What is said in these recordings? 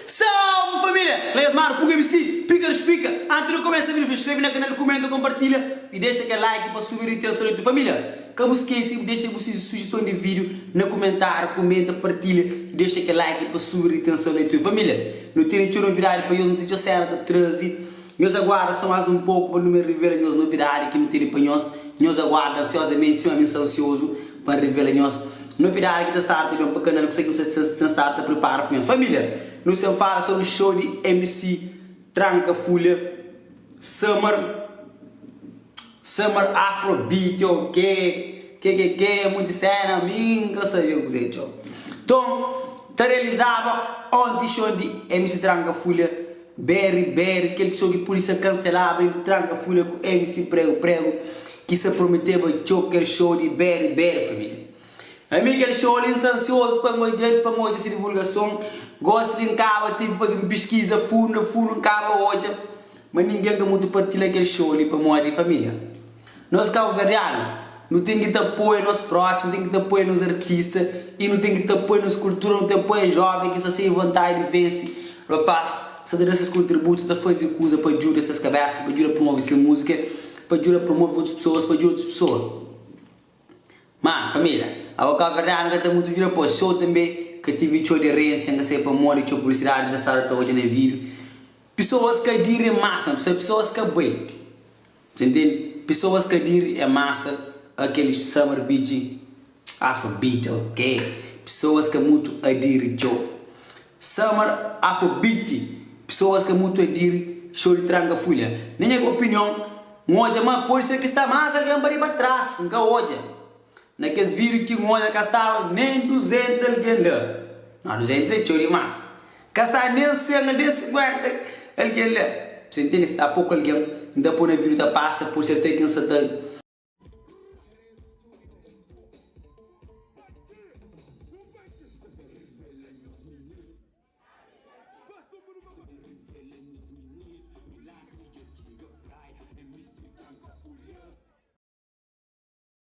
Salve família! Na es mara pug mc pika di spika anti di kumesa video fla skrebe na kanal kumenta konpartilha y dexa kel like pa subi ritenson di tu família ka bu skese bu dexa bu sujeston di video na kumentariu kumenta partilha y dexa kel like pa subi ritenson di tu família nu tene txeu novidadi pa nhos nu ten txeu sena ta trazi Nhos aguarda sô más un poku pa nu ben revela nhos novidadi ki nu tene pa nhos. Nhos aguarda ansiozamenti sima mi N sta ansiozu pa N revela nhos novidadi ki ta stara ta ben pa kanal ku se ki nu sta stara ta pripara pa nhos. Família, nu sen fala sobri xou di MC Tranka Fulha Summer Summer Afrobeat ô ke ke ke ke monti séna mi N ka sabia kuzé txeu. Nton, ta realizaba onti xou di MC Tranka Fulha. BR BR kel txou ki pudi ser kanselaba entri tranka fura ku MC pregu pregu ki sa prometeba txou kel show di BR BR família ami kel show li nsta ansiozu pa ngodjel pa ngodja se divulgason gosi li nkaba tive faze un piskiza fundu fundu nkaba odja ma ningen ka mutu partila kel show li pamodi família Nos kabuverdianu, nu ten ki ta apoia nos próximo, nu ten ki ta apoia nos artista y nu ten ki ta apoia nos kultura, nu ten apoia joven ki sta xei di vontadi di vense, rapaz ki sta ta da ses kontributu, sta ta fazi kuza pa djuda ses kabesa, pa djuda promove se muzika, pa djuda promove otus pesoas, pa djuda otus pesoa. Ma, familia, abo kabuverdianu ka ten mutu djuda pos, txeu tanbe ka tevi txeu aderensia, nka sai pa modi, txeu publisidadi nka staba ta odja na vidu, pesoas ka dire masa, pesoas ka bai. Dja ntende pisoas ka diri é masa a kel summer beach afrobeat ok pisoas ka mutu a diri txo summer afrobeat pisoas ka mutu a diri xou di tranka fulha na nha opinion n odja ma pode ser ki sta masa algen pa riba tras n ka odja Na kes vídiu ki N odja ka staba nen 200 algen la. Nau, 200 é txeu dimás. Ka sta nen 100 al nen 50 algen la. Bu ta intende? Sta poku algen. N ta poi na vídiu ta pasa pur si até ki N sa ta.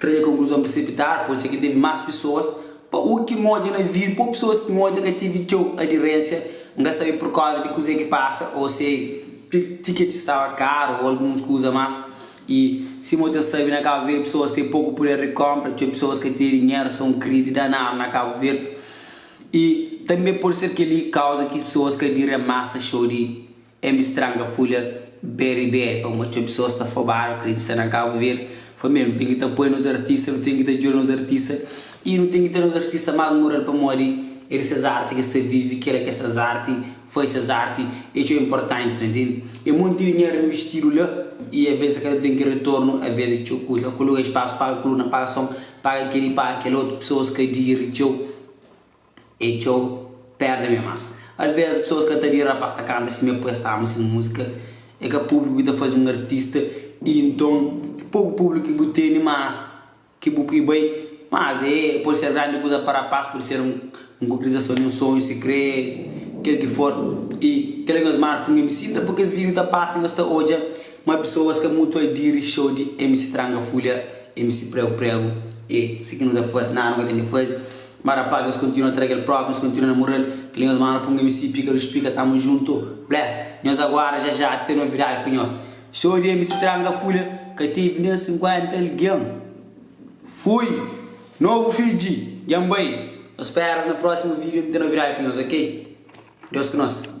Traze konkluzon presipitadu, pode ser ki tevi más pesoas. Pa u ki nodja na vídiu, pô pesoas ki nodja ka tevi txeu adirénsia. N ka sabe purkóza di kuzê ki pasa ô se tiketi staba karu ô alguns kuza más. I sima bu ta sabe, na Kabu Verdi pesoas ten poku puder di kónpra, txeu pesoas ka ten dinheru, sta un krizi danadu na Kabu Verdi. I tanbe pode ser kel-li kauza ki pesoas ka diria masa xou di Embi Stranga Fulha Beri-Beri, pamodi txeu pesoas ta fobadu, krê di sta na Kabu Verdi. Famia, nu ten ki ta poi nos artista, nu ten ki ta djuda nos artista i nu ten ki ta nos artista más moral pamodi é di ses arti ki es ta vive, kel la ki es ta ses arti, fai ses arti é txeu inportanti, ta intende? É monti dinheru investidu la i avês es ka ta ten kel retornu, avês é txeu kuza, kuluga espasu, paga kuluna, paga son, Paga kel i paga kel otu pesoas ka diri txeu e txeu perde me mas alvez pesoas ka ta diri rapaz ta kanta si me pres ta ama ses musika e ka publiku ki ta faze un artista i nton e poku publiku ki bu teni mas ki bu pui bai mas e pode ser grandi kuza pa rapaz pode ser un konkretizason di un sonhu si kre kel ki for i kel ki nhos marka pui nhos mi sinta pui kes video ta pasa nhos ta odja. Ma pesoas ka mutu a diri xou di MC Tranga Fulha, MC Pregu Pregu, e si ki nu ta fase, nada nu ka ten di fase. Ma rapagas kontinua tra kel propi, nhos kontinua namoral, kel li nhos manda pa un MC pika dus pika tamu junto, bless. Nhos agora ja ja ten novidade pa nhos, xou di MC Tranga Fulha ka tevi nen 50 algen. Fui! Novo fidji, djan bai! Nhos speras na proximo video nu ten novidade pa nhos ok. Deus ku nos.